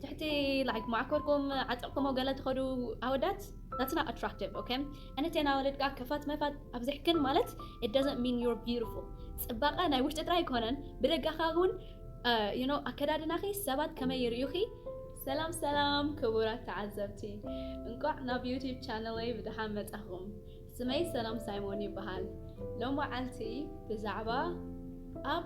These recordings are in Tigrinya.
ትሕቲ like ማዓኮርኩም ዓጢቅኩሞ ገለ ትከዱ ኣወዳት that's not attractive ok ኣንቴና ኣዋልድ ከኣ ክፋት መፋት ኣብዚሕክን ማለት it doesn't mean you're beautiful ጽባቀ ናይ ውሽጢ ጥራይ ኣይኮነን ብደገ ከኣ ውን you know ኣከዳድናኺ ሰባት ከመይ ይርእዩኺ ሰላም ሰላም ክቡራት ተዓዘብቲ እንቋዕ ናብ ዩቲብ ቻነለይ ብድሓን መጻኹም ስመይ ሰላም ሳይሞን ይበሃል ሎመዓልቲ ብዛዕባ ኣብ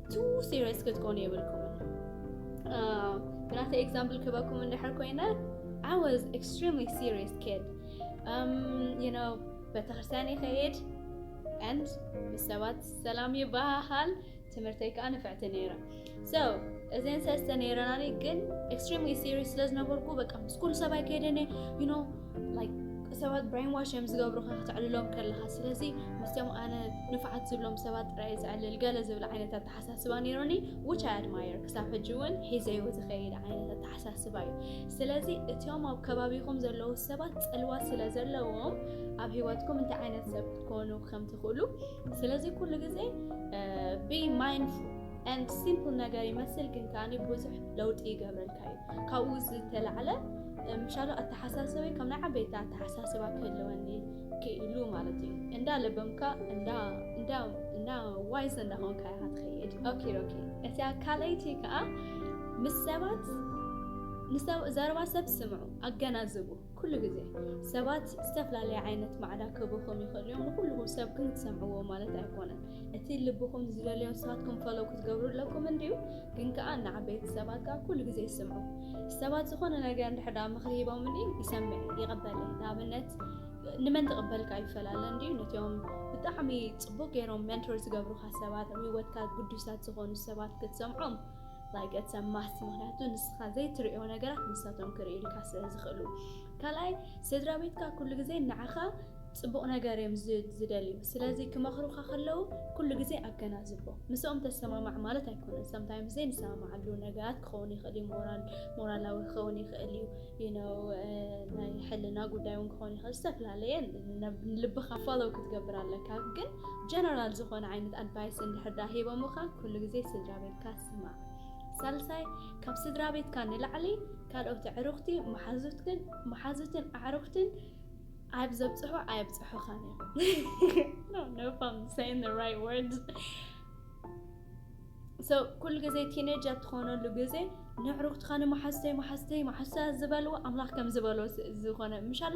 ቱ ሲሪየስ ክትኮኑ የብልኩምን ብናተ ኤግዛምፕል ክበኩም እንድሕር ኮይነ I was extremely serious kid um, you know ቤተክርስትያን ይኸይድ and ምስ ሰባት ሰላም ይበሃሃል ትምህርተይ ከዓ ንፍዕቲ ነይረ so እዘን ሰለስተ ነይረናኒ ግን ኤክስትሪምሊ ሲሪየስ ስለዝነበርኩ በቃ ምስ ኩሉ ሰባይ ከይደነ you know ሰባት ብሬን ዋሽ እዮም ዝገብሩካ ከተዕልሎም ከለካ ስለዚ ምስቶም ኣነ ንፋዓት ዝብሎም ሰባት ጥራይ ዘዕልል ገለ ዝብል ዓይነት ኣተሓሳስባ ነይሩኒ ዊች ኣይ ኣድማየር ክሳብ ሕጂ እውን ሒዘዮ ዝኸይድ ዓይነት ኣተሓሳስባ እዩ ስለዚ እትዮም ኣብ ከባቢኹም ዘለዉ ሰባት ፅልዋ ስለ ዘለዎም ኣብ ሂወትኩም እንታይ ዓይነት ሰብ ክትኮኑ ከም ትኽእሉ ስለዚ ኩሉ ግዜ ቢ ማይንድፉል ኤንድ ሲምፕል ነገር ይመስል ግን ከዓኒ ብዙሕ ለውጢ ይገብረልካ እዩ ካብኡ ዝተላዕለ ምሻሉ ኣተሓሳሰበይ ከም ናይ ዓበይቲ ኣተሓሳስባ ክህልወኒ ክኢሉ ማለት እዩ እንዳ ለበምካ እንዳ ዋይስ እንዳኾንካ ኢኻ ትኸይድ ኦኬ ኦኬ እቲያ ካልኣይቲ ከዓ ምስ ሰባት ዘረባ ሰብ ስምዑ ኣገናዝቡ ኩሉ ግዜ ሰባት ዝተፈላለየ ዓይነት ማዕዳ ክህቡኹም ይኽእሉ እዮም። ንኹሉ ሰብኩም ክትሰምዕዎ ማለት ኣይኮነን። እቲ ልብኹም ዝደልዮ ንስኻትኩም ፈለው ክትገብሩ ኣለኩም እንድዩ፣ ግን ከኣ ንዓበይቲ ሰባት ከኣ ኩሉ ግዜ ስምዑ። ሰባት ዝኾነ ነገር እንድሕር ደኣ ምኽሪ ሂቦምኒ ይሰምዕ እየ፣ ይቕበል እየ። ንኣብነት ንመን ትቕበልካ ይፈላለ እንድዩ፣ ነቶም ብጣዕሚ ጽቡቕ ገይሮም ሜንቶር ዝገብሩኻ ሰባት፣ ኣብ ህይወትካ ግዱሳት ዝኾኑ ሰባት ክትሰምዖም like it's a must ምክንያቱ ንስኻ ዘይትርእዮ ነገራት ንሳቶም ክርእዩልካ ስለ ዝኽእሉ። ካልኣይ ስድራ ቤትካ ኩሉ ግዜ ንዓኻ ጽቡቕ ነገር እዮም ዝደልዩ። ስለዚ ክመኽሩኻ ከለዉ ኩሉ ግዜ ኣገናዝቦ። ምስኦም ተሰማማዕ ማለት ኣይኮነን። ሰምታይምስ ዘይንሰማማዓሉ ነገራት ክኸውን ይኽእል እዩ። ሞራል ሞራላዊ ክኸውን ይኽእል እዩ። ዩነው ናይ ሕልና ጉዳይ እውን ክኸውን ይኽእል። ዝተፈላለየ ልብኻ ፎሎው ክትገብር ኣለካ። ግን ጀነራል ዝኾነ ዓይነት ኣድቫይስ እንድሕር ዳ ሂቦምኻ ኩሉ ግዜ ስድራ በልካ ስማዕ። ሳልሳይ፣ ካብ ስድራቤትካ ንላዕሊ ካልኦት ኣዕሩኽቲ፣ መሓዙትክን መሓዙትን ኣዕሩኽትን ኣብ ዘብጽሑ ኣየብጽሑኻን እዮም። ኩሉ ግዜ ቲነጅ ኣብ ትኾነሉ ግዜ ንኣዕሩኽትኻ ንመሓዙተይ መሓዙተይ መሓዙተይ ዝበልዎ ኣምላኽ ከም ዝበሎ ዝኾነ ምሻሎ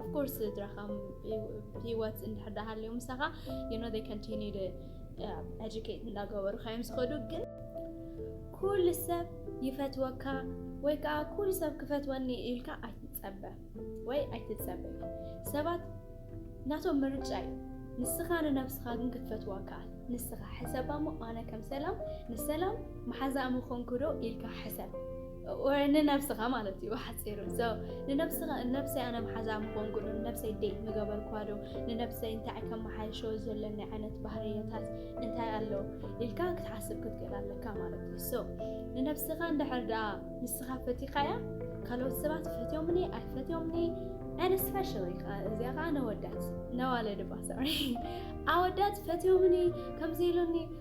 ኦፍኮርስ ስድራኻ ሂወት እንድሕር ዳሃልዮ ምሳኻ ዩኖ ዴይ ኮንቲኒ ኤጁኬት እንዳገበሩ ካዮም ዝኸዱ ግን ኩሉ ሰብ ይፈትወካ ወይ ከዓ ኩሉ ሰብ ክፈትወኒ ኢልካ ኣይትፀበ ወይ ኣይትፀበ ሰባት ናቶም ምርጫ እዩ ንስኻ ንነብስኻ ግን ክትፈትዋ ከኣል ንስኻ ሕሰባ እሞ ኣነ ከም ሰላም ንሰላም መሓዛኣ ምኾንኩ ዶ ኢልካ ሕሰብ ወይ ንነብስኻ ማለት እዩ ብሓፂሩ ሰው ንነብስኻ ነብሰይ ኣነ መሓዛ ምኾንኩ ዶ ንነብሰይ ደይት ምገበርኩዋ ዶ ንነብሰይ እንታይ ከመሓይሾ ዘለኒ ዓይነት ባህርየታት እንታይ ኣሎ ኢልካ ክትሓስብ ክትክእል ኣለካ ማለት እዩ ሰው ንነብስኻ እንድሕር ደኣ ንስኻ ፈቲኻያ ካልኦት ሰባት ፈትዮምኒ ኣይፈትዮምኒ and especially እዚኣ ከዓ ነወዳት ነዋለድባ ሰሪ ኣወዳት ፈትዮምኒ ከምዚ ኢሉኒ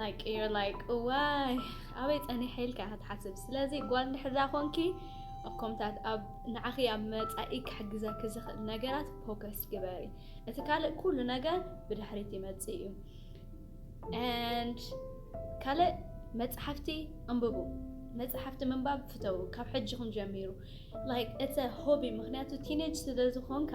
ላይክ ኢር ላይክ እዋይ ኣበይ ጸኒሐ ኢልካ ኢኻ ትሓስብ ስለዚ ጓል እንድሕዳ ኮንኪ ኣብ ኮምታት ኣብ ንዓኺ ኣብ መጻኢ ክሕግዘኪ ዝኽእል ነገራት ፎከስ ግበሪ እቲ ካልእ ኩሉ ነገር ብድሕሪት ይመጽእ እዩ ንድ ካልእ መጽሓፍቲ ኣንብቡ መጽሓፍቲ ምንባብ ፍተው ካብ ሕጂኹም ጀሚሩ ላይክ እተ ሆቢ ምክንያቱ ቲኔጅ ስለ ዝኾንካ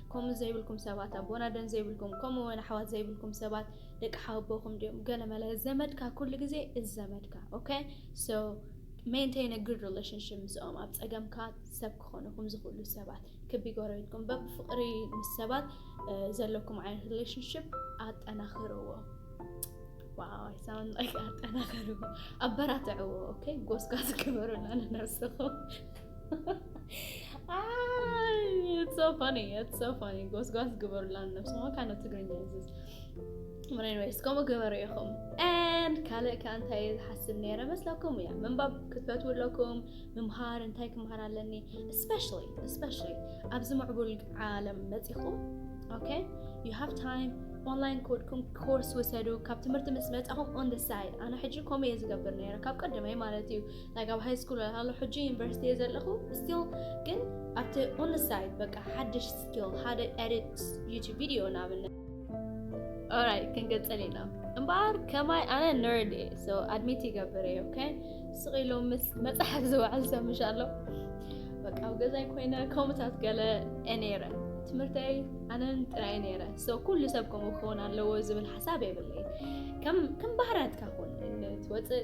ከምኡ ዘይብልኩም ሰባት ኣቦና ደን ዘይብልኩም ከምኡ ወን ኣሕዋት ዘይብልኩም ሰባት ደቂ ሓወቦኹም ድዮም ገለ መለ ዘመድካ ኩሉ ግዜ እዝ ዘመድካ ኦከ ሶ ሜንቴን ኣ ጉድ ሪሌሽንሽፕ ምስኦም ኣብ ጸገምካ ሰብ ክኾኑኹም ዝኽእሉ ሰባት ክቢ ጎረቤትኩም በብ ፍቕሪ ምስ ሰባት ዘለኩም ዓይነት ሪሌሽንሽፕ ኣጠናኽርዎ ዋው ኣይ ሳውንድ ላይክ ኣጠናኽርዎ ኣበራትዕዎ ኦከ ጎስጓስ ክበሩላ ንነብስኹም ጎስጓስ ግበሩላ ነብስሞ ካነ ትግርኛ ዝዝ ወይስ ከምኡ ግበሩ ኢኹም ን ካልእ ከ እንታይ ዝሓስብ ነረ መስለኩም እያ ምንባብ ክትፈት ኣለኩም ምምሃር እንታይ ክምሃር ኣለኒ ኣብዚ ምዕቡል ዓለም መፂኹም ዩ ሃ ታይም ኦንላይን ኮድኩም ኮርስ ውሰዱ ካብ ትምህርቲ ምስ መፃኹም ኦንደሳይ ኣነ ሕጂ ከምኡ እየ ዝገብር ነረ ካብ ቀደመይ ማለት እዩ like ኣብ ሃይ ስኩል ሃሎ ሕጂ ዩኒቨርሲቲ እየ ዘለኹ ስቲል ግን ኣብቲ ኦን ሳይድ በቃ ሓድሽ ስኪል ሓደ ኤዲት ዩቱብ ቪድዮ ንኣብነት ኦራይ ክንገጸል ኢና እምበኣር ከማይ ኣነ ነርድ እየ ሶ ኣድሚት ይገብር እየ ኦኬ ስቕ ኢሉ ምስ መፅሓፍ ዝውዕል ሰብ ምሽ ኣሎ በቃ ኣብ ገዛይ ኮይነ ከምታት ገለ ነይረ ትምህርተይ ኣነን ጥራይ ነይረ ሶ ኩሉ ሰብ ከምኡ ክኸውን ኣለዎ ዝብል ሓሳብ የብለይ ከም ባህርያትካ ኹን ትወፅእ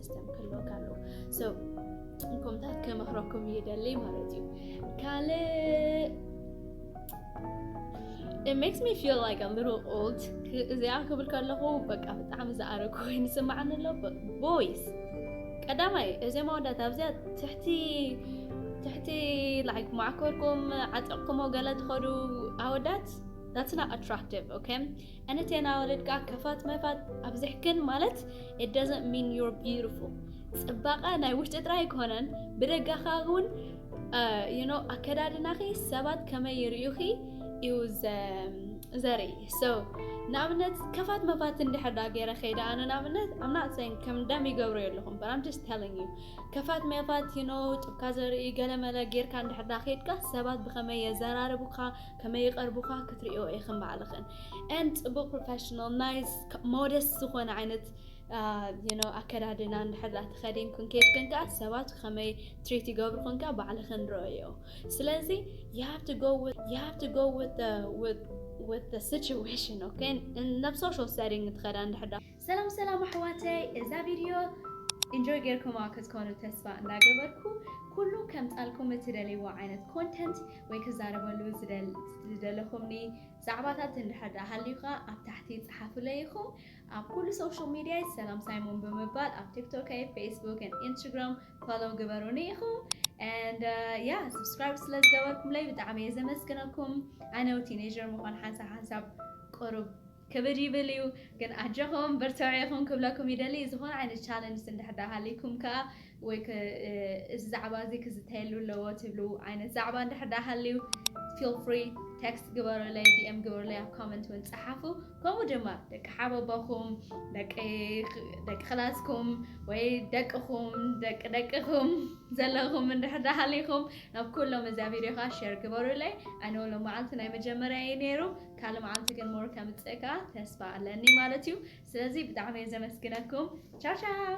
ሲስተም ክህልወካ ኣለዎ ሰው እንኮምታት ከመክረኩም ይደልይ ማለት እዩ ካልእ It makes me feel like a little old እዚኣ ክብል ከለኹ በቃ ብጣዕሚ ዝኣረግ ኮይኑ ስማዓኒ ኣሎ ቦይስ ቀዳማይ እዚኦም ኣወዳት ኣብዚኣ ትሕቲ ትሕቲ ላይክ ማዕኮርኩም ዓጢቕኩሞ ገለ ትኸዱ ኣወዳት that's not attractive okay ኣነ ቴና ወለድ ከኣ ከፋት መፋት ኣብዚሕክን ማለት it doesn't mean you're beautiful ጽባቐ ናይ ውሽጢ ጥራይ ኣይኮነን ብደጋ ከኣ እውን you know ኣከዳድናኺ ሰባት ከመይ ይርእዩኺ እዩ ዘርኢ so ንኣብነት ከፋት መፋት እንድሕር ዳ ገይረ ከይደ ኣነ ንኣብነት I'm not saying ከም ደም ይገብሩ የለኹም but I'm just telling you ከፋት መፋት you know ጡብካ ዘርኢ ገለመለ ጌርካ እንድሕር ዳ ከድካ ሰባት ብኸመይ የዘራርቡካ ከመይ ይቀርቡካ ክትሪኦ ኢክን ባዕልክን and ፅቡቅ ፕሮፈሽናል ናይስ ሞደስት ዝኮነ ዓይነት you know ኣከዳድና እንድሕር ዳኣ ተከዲንክን ከይድክን ከዓ ሰባት ከመይ ትሪት ይገብርክን ከዓ ባዕልክን ረኦዮ ስለዚ you have to go with you have to go with the with with the situation okay in ናብ social setting ትከዳ እንድሕር ዳኣ ሰላም ሰላም ኣሕዋተይ እዛ ቪድዮ ኢንጆይ ጌርኩማ ክትኮኑ ተስፋ እንዳገበርኩ ኩሉ ከምፃልኩም እትደልይዎ ዓይነት ኮንተንት ወይ ክዛረበሉ ዝደለኹምኒ ዛዕባታት እንድሕር ድኣ ሃልዩካ ኣብ ታሕቲ ጽሓፉለይ ኢኹም ኣብ ኩሉ ሶሻል ሚድያይ ሰላም ሳይሞን ብምባል ኣብ ቲክቶከይ ፌስቡክን ኢንስትግራም ፎሎው ግበሩኒ ኢኹም and ያ uh, subscribe ስለ ዝገበርኩምለይ ብጣዕሚ እየ ዘመስግነኩም ኣነው ቲኔጀር ምዃን ሓንሳብ ሓንሳብ ቅሩብ ክብድ ይብል እዩ ግን ኣጀኹም በርትዑ ኢኹም ክብለኩም ይደሊ ዝኾነ ዓይነት ቻለንጅ እንድሕር ድኣ ሃልይኩም ከኣ ወይ ከ እዚ ዛዕባ እዚ ክዝተየሉ ኣለዎ ትብሉ ዓይነት ዛዕባ እንድሕር ድኣ ሃልዩ ፊል ፍሪ ቴክስት ግበሩለይ ዲኤም ግበሩለይ ኣብ ኮመንት እውን ጸሓፉ ከምኡ ድማ ደቂ ሓበቦኹም ደቂ ደቂ ክላስኩም ወይ ደቅኹም ደቂ ደቅኹም ዘለኹም እንድሕር ድኣ ሃልይኩም ናብ ኩሎም እዛ ቪድዮ ከኣ ሼር ግበሩለይ ኣነ ሎመዓልቲ ናይ መጀመርያ እዩ ነይሩ ካልእ መዓልቲ ግን more ከምጽእካ ተስፋ ኣለኒ ማለት እዩ ስለዚ ብጣዕሚ እየ ዘመስግነኩም ቻው ቻው።